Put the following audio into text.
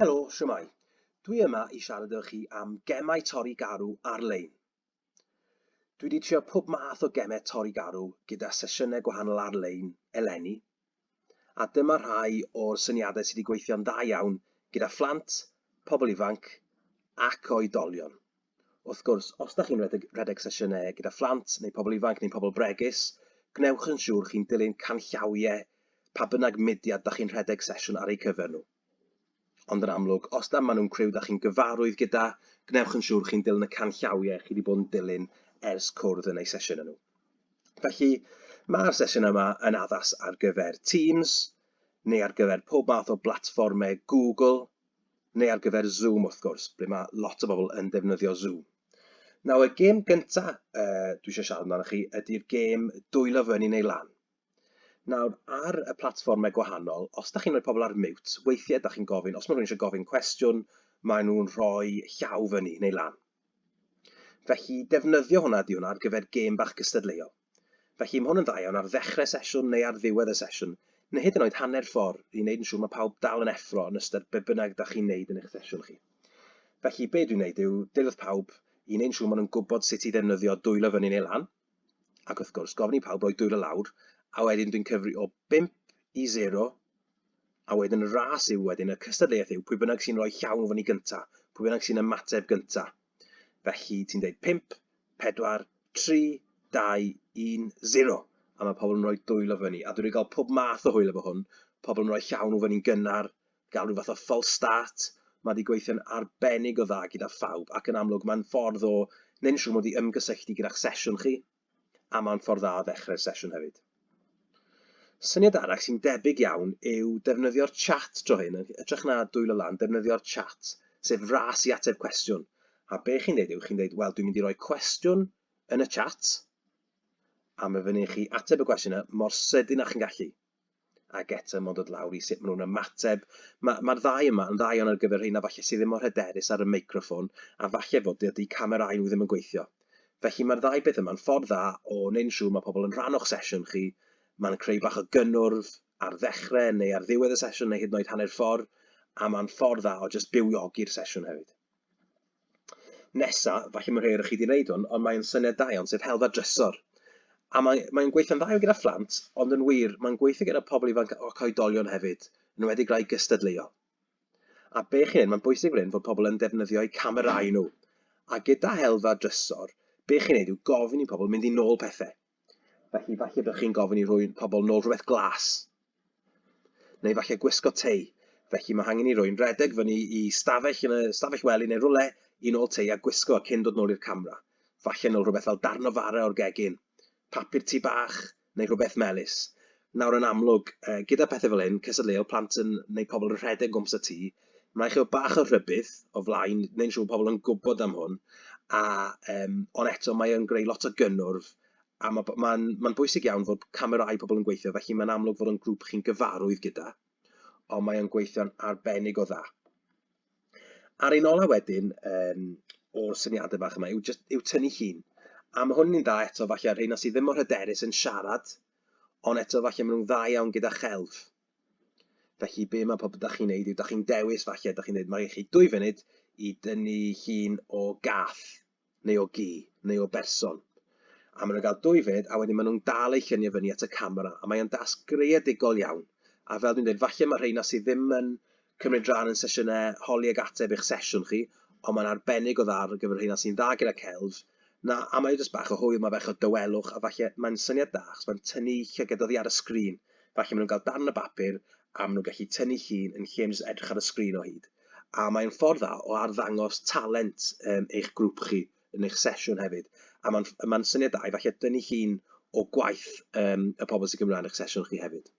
Helo, siwmai. Dwi yma i siarad efo chi am gemau torri garw ar-lein. Dwi wedi trio pob math o gemau torri garw gyda sesiynau gwahanol ar-lein eleni, a dyma rhai o'r syniadau sydd wedi gweithio'n dda iawn gyda phlant, pobl ifanc ac oedolion. Wrth gwrs, os da chi'n rhedeg sesiynau gyda phlant neu pobl ifanc neu pobl bregus, gwnewch yn siŵr chi'n dilyn canllawiau pa bynnag mudiad da chi'n rhedeg sesiwn ar eu cyfer nhw. Ond yn amlwg, os na maen nhw'n criw da chi'n gyfarwydd gyda, gwnewch yn siŵr chi'n dilyn y canllawiau chi wedi bod yn dilyn ers cwrdd yn eu sesiwn nhw. Felly, mae'r sesiwn yma yn addas ar gyfer Teams, neu ar gyfer pob math o blatfformau Google, neu ar gyfer Zoom wrth gwrs, ble mae lot o bobl yn defnyddio Zoom. Nawr, y gêm gyntaf uh, dwi eisiau siarad amdano chi ydy'r gêm dwylo fyny neu lan. Nawr, ar y platfformau gwahanol, os da chi'n rhoi pobl ar mute, weithiau da chi'n gofyn, os mae rhywun eisiau gofyn cwestiwn, maen nhw'n rhoi llaw fyny neu lan. Felly, defnyddio hwnna ydy hwnna ar gyfer gêm bach cystadleuol. Felly, mae hwn yn dda iawn ar ddechrau sesiwn neu ar ddiwedd y sesiwn, neu hyd yn oed hanner ffordd i wneud yn siŵr mae pawb dal yn effro yn ystod be bynnag da chi'n wneud yn eich sesiwn chi. Felly, be dwi'n wneud yw dilwth pawb i wneud yn siŵr maen nhw'n gwybod sut i ddefnyddio dwylo fyny neu lan, ac wrth gwrs gofyn i pawb roi dwylo lawr a wedyn dwi'n cyfri o 5 i 0 a wedyn y ras yw wedyn y cystadleuaeth yw pwy bynnag sy'n rhoi llaw yn fyny gynta, pwy bynnag sy'n ymateb gynta. Felly ti'n dweud 5, 4, 3, 2, 1, 0 a mae pobl yn rhoi dwylo fyny a dwi wedi cael pob math o hwyl efo hwn, pobl yn rhoi llaw nhw fyny'n gynnar, gael rhyw fath o false start. Mae wedi gweithio'n arbennig o dda gyda phawb ac yn amlwg mae'n ffordd o wneud yn siŵr mod i ymgysylltu gyda'ch sesiwn chi a mae'n ffordd dda o ddechrau'r sesiwn hefyd. Syniad arall sy'n debyg iawn yw defnyddio'r chat dro hyn, yn ytrach na dwylo lan, defnyddio'r chat, sef ras i ateb cwestiwn. A be chi'n dweud yw, chi'n dweud, wel, dwi'n mynd i roi cwestiwn yn y chat, a mae fyny chi ateb y gwestiwn yna mor sydyn â chi'n gallu. ac eto mae'n dod lawr i sut maen nhw'n ymateb. Mae'r ma ddau yma yn ddau ar gyfer rheina falle sydd ddim mor hyderus ar y meicroffon a falle fod dydy camerau nhw ddim yn gweithio. Felly mae'r ddau beth yma'n ffordd dda o wneud yn siŵr mae pobl yn rhan o'ch sesiwn chi. Mae'n creu bach o gynnwrf ar ddechrau neu ar ddiwedd y sesiwn neu hyd yn oed hanner ffordd a mae'n ffordd dda o just bywiogi'r sesiwn hefyd. Nesa, falle mae rhai o'r chi wedi gwneud hwn, ond mae'n syniad da iawn, sef helfa drysor. A mae'n mae gweithio'n dda gyda phlant, ond yn wir, mae'n gweithio gyda pobl ifanc o coedolion hefyd, yn wedi rai gystadleuol. A be chi'n neud, mae'n bwysig fan hyn fod pobl yn defnyddio eu camerau nhw. A gyda helfa drysor, be chi'n neud yw gofyn i pobl mynd i nôl pethau. Felly, falle byddwch chi'n gofyn i roi pobl nôl rhywbeth glas. Neu falle gwisgo tei. Felly mae hangen i rwy'n redeg fyny i stafell yn y stafell wely neu rwle i nôl tei a gwisgo cyn dod nôl i'r camera. Falle nôl rhywbeth fel darn o fara o'r gegin, papur tu bach neu rhywbeth melys. Nawr yn amlwg, gyda pethau fel hyn, cystadleuol, plant yn, neu pobl yn rhedeg gwmpas y tŷ, mae'n rhaid chi fod bach o rhybudd o flaen, neu'n siŵr pobl yn gwybod am hwn, a, um, ond eto mae o'n greu lot o gynnwrf, a mae'n ma, ma, ma, ma bwysig iawn fod camerau pobl yn gweithio, felly mae'n amlwg fod o'n grŵp chi'n gyfarwydd gyda, ond mae o'n gweithio'n arbennig o dda. Ar un ola wedyn, um, o'r syniadau bach yma, yw, just, yw tynnu llun. A mae hwn yn un dda eto, falle, ar hyn sydd ddim mor hyderus yn siarad Ond eto falle maen nhw'n dda iawn gyda chelf. Felly be mae pobl da chi'n neud yw da chi'n dewis falle, da chi'n dweud mae chi dwy funud i dynnu llun o gath neu o gi neu o berson. A maen nhw'n cael dwy funud a wedyn maen nhw'n dal eu lluniau fyny at y camera a mae o'n dasg greadigol iawn. A fel dwi'n dweud, falle mae rheina sydd ddim yn cymryd rhan yn sesiynau holi ac ateb eich sesiwn chi, ond mae'n arbennig o dda ar gyfer y rheina sy'n dda gyda celf, na, a mae jyst bach o hwyl, mae bach o dawelwch, a falle mae'n syniad da achos mae'n tynnu llygad oddi ar y sgrin, falle maen nhw'n cael darn o bapur a maen nhw'n gallu tynnu llun yn lle jyst edrych ar y sgrin o hyd. A mae'n ffordd dda o arddangos talent um, eich grŵp chi yn eich sesiwn hefyd. A mae'n ma syniad da i falle dynnu llun o gwaith um, y pobl sy'n gymryd rhan eich sesiwn chi hefyd.